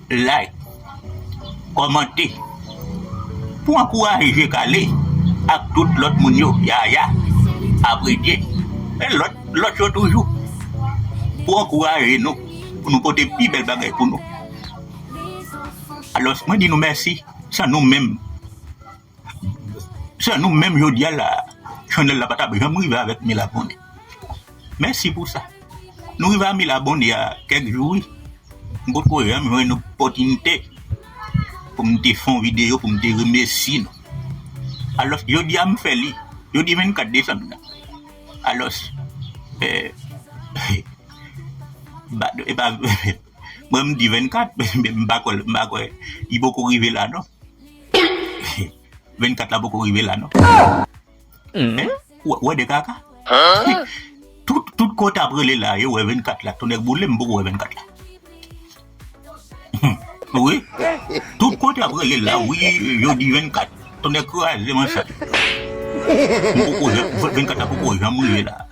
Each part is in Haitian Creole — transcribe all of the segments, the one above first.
Like, kòmante pou ankouraje kale ak tout lòt moun yo yaya apredye e lòt lòt yo toujou pou ankouraje nou pou nou pote pi bèl bagay pou nou alòs mwen di nou mèsi san nou menm. San nou menm jodia la chanel la pa tap janm rive avèk 1000 abone mèsi pou sa nou rive a 1000 abone a kèk jou wi m potko janm jwenn opòtinite poum te fè yon video poum te remèsye nou alòs jodia m fè li jodi 24 desanm nan alòs epa mwen m di 24 m pa kwè li poko rive la non. 24 la poko rive la non. Ou wè de kaka? Tout ko tap rele la yo wè 24 la. Tonnè boule m poko wè 24 la. Wi. Tout ko tap rele la wi yo di 24. Tonnè kraze m an sat. M poko 24 la poko janm rive la.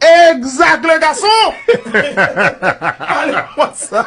Exact le gason Ale konsa.